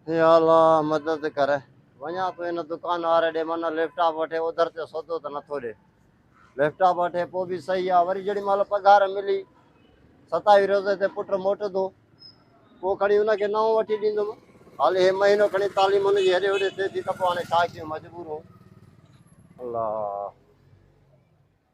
اي الا مدد ڪر وڃان ٿو ان دڪان واري ڏي من ليپ ٽاپ وٺي اوڌر تي سودو ته نٿو ڏي ليپ ٽاپ وٺي پوء به صحيح آ وري جيڏي مهل پگهار ملي ستاوي روزي تي پٽ موٽندو پوء کڻي ان کي نئون وٺي ڏيندم هالي هي مهينو کڻي تعليم ان جي هيڏي هوڏي ٿئي ٿي ته پوء هاڻي ڇا ڪيون مجبور هون الله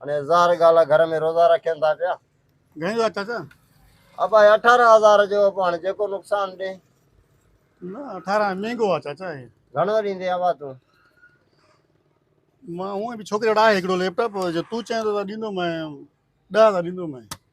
هني ظاهر ڳالهه آهي گهر ۾ روزا رکين ٿا پيا. گهڻي جو اٿس؟ ابا هي اٺارهن هزار جو ابا هاڻي جيڪو نقصان ڏي. نه اٺارهن مهنگو آهي چاچا هي. گهڻو ڏيندي ابا تون؟ مان هونئن به ڇوڪري وٽ آهي هڪڙو ليپ ٽاپ جو تون چئين ٿو ته ڏيندومانء ڏهه هزار ڏيندومانء.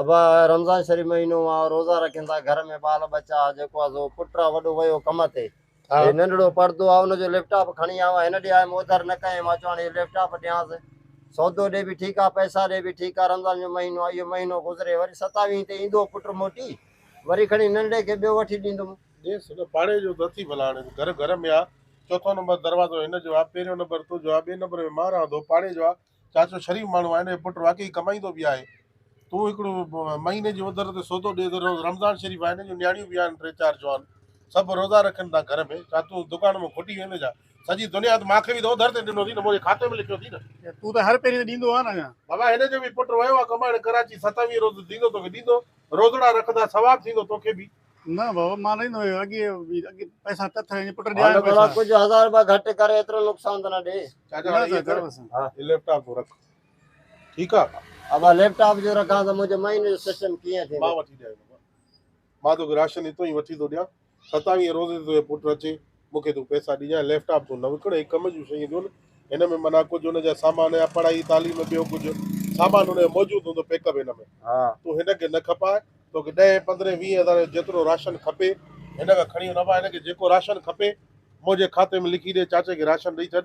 ابا رمضان شريف مهينو آ روزا رکين ٿا گهر ۾ ٻال ٻچا آ جيڪو آ سو پٽ آ وڏو ويو ڪم تي ها هي ننڍڙو پڙدو آ ان جو ليپ ٽاپ کڻي آيو آ هن ڏي آيم اوڌر نه ڪيائين مان چيو هاڻي هي ليپ ٽاپ ڏيانس سودو ڏي به ٺيڪ آ پئسا ڏي به ٺيڪ آ رمضان جو مهينو آ اهو مهينو گذري وري ستاويهين تي ايندو پٽ موٽي وري کڻي ننڍڙي کي ٻيو وٺي ڏيندم. ڏيس هن پاڙي جو نه اٿي ڀلا هاڻي ته گهر گهر ۾ آ چوٿون نمبر دروازو هن جو آ پهريون نمبر تنهنجو آ ٻئي نمبر ۾ مان رهان ٿو پاڙي جو آ چاچو شريف ماڻهو آهي نه هي پٽ واقعي ڪمائيندو به آهي تون هڪڙو مهيني جي اوڌر تي سودو ڏي ته رمضان شريف آهي نه جو نياڻيون به آهن ٽي چار جوان سڀ روزا رکن ٿا گهر ۾ ڇا تون دڪان مان کوٽي ويندين ڇا سڄي دنيا ته مان کي به ته اوڌر تي ڏنو اٿئي نه منهنجي کاتي ۾ لکيو اٿئي نه. تون ته هر پهرين تي ڏيندو آهين اڃا. بابا هن جو به پٽ ويو آهي ڪمائڻ ڪراچي ستاويهه روز ڏيندو توکي ڏيندو روزڙا رکندا ثواب ٿيندو توکي به. نه بابا مان رهندو آهيان اڳي اڳي پئسا تٿ هي پٽ ڏيا هن پئسا ڪجھ هزار روپيا گهٽ ڪر ايترو نقصان ته نه ڏي چاچا هاڻي ايئن ڪر هي ليپ ٽاپ تون رک ٺيڪ آ ابا ليپ ٽاپ جو رکان ته منهنجو مهيني جو سسٽم ڪيئن ٿيندو مان وٺي ڏيان مان توکي راشن هتو ئي وٺي ٿو ڏيان ستاويهه روزي تي تنهنجو پٽ اچي مون کي تون پئسا ڏجانء ۽ ليپ ٽاپ تون نه وڪڻ، هي ڪم جون شيون ڏيون نه، هن ۾ معنيٰ ڪجهه هن جا سامان يا پڙهائي تعليم ٻيو ڪجهه سامان هن جو موجود هوندو پيڪ اپ هن ۾ تون هن کي نه کپاء، توکي ڏهين پندرهين ويهين هزارين جو جيترو راشن کپي هن کان کڻي نه وڃاء، هن کي جيڪو راشن کپي منهنجي کاتي ۾ لکي ڏي، چاچي کي راشن ڏئي ڇڏ.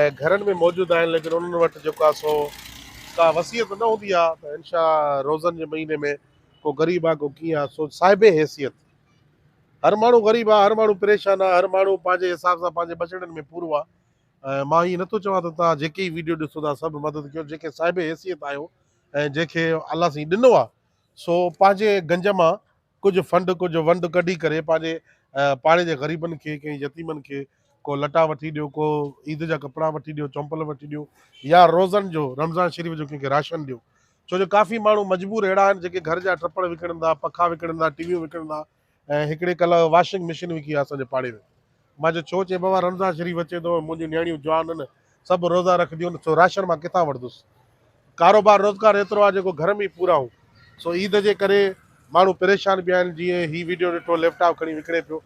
۽ گهرن ۾ موجود آهن ليڪن انهن وٽ جيڪو آهي سو ڪا وصيت نه هوندي آهي ته انشاء روزن جي مهيني ۾ ڪو غريب آهي ڪو ڪيئن آهي سو صاحب حيثيت هر ماڻهو غريب آهي هر ماڻهو پريشان آهي هر ماڻهو پنهنجي حساب سان پنهنجي ٻچڙن ۾ پورو آهي ۽ مان ائين نٿو چوان ته توهان جيڪي ئي ويڊيو ڏسو ٿا سڀ مدد ڪيو جيڪي صاحب حيثيت آهيو ۽ جنهن کي الله سائين ڏنو آهي سو پنهنجي گنج مان ڪجهه فنڊ ڪجهه ونڊ ڪڍي ڪري پنهنجي پاڙي جي غريبن کي ڪنهن يتيمن کي ڪو لٽا وٺي ڏيو ڪو عيد جا ڪپڙا وٺي ڏيو چمپل وٺي ڏيو يا روزن جو رمضان شريف جو ڪنهن کي راشن ڏيو ڇو جو ڪافي ماڻهو مجبور اهڙا آهن جيڪي گهر جا ٽپڙ وڪڻن ٿا پکا وڪڻن ٿا ٽي ويون وڪڻن ٿا ۽ هڪڙي ڪلهه واشنگ مشين وڪي آهي اسان جي پاڙي ۾ مان چيو، ڇو؟ چئي، بابا رمضان شريف اچي ٿو، منهنجون نياڻيون جوان آهن، سڀ روزا رکنديون، سو راشن مان ڪٿان وٺندس؟ ڪاروبار روزگار ايترو آهي جيڪو گهر ۾ ئي پورائون، سو عيد جي ڪري ماڻهو پريشان به آهن، جيئن هي وڊيو ڏٺو ليپ ٽاپ کڻي وڪڻي پيو،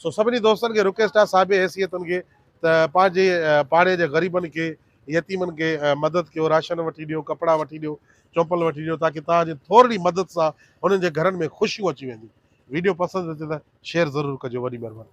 سو سڀني دوستن کي رڪويسٽ آهي صاحب حيثيتن کي ته پنهنجي پاڙي جي غريبن کي يتيمن کي مدد ڪيو، راشن وٺي ڏيو، ڪپڙا وٺي ڏيو، چومپل وٺي ڏيو، تاڪه توهان جي ٿورڙي مدد سان هنن جي گهرن ۾ خوشيون اچي وينديون، وڊيو پسند اچي ته شيئر ضرور ڪجو، وڏي مهرباني.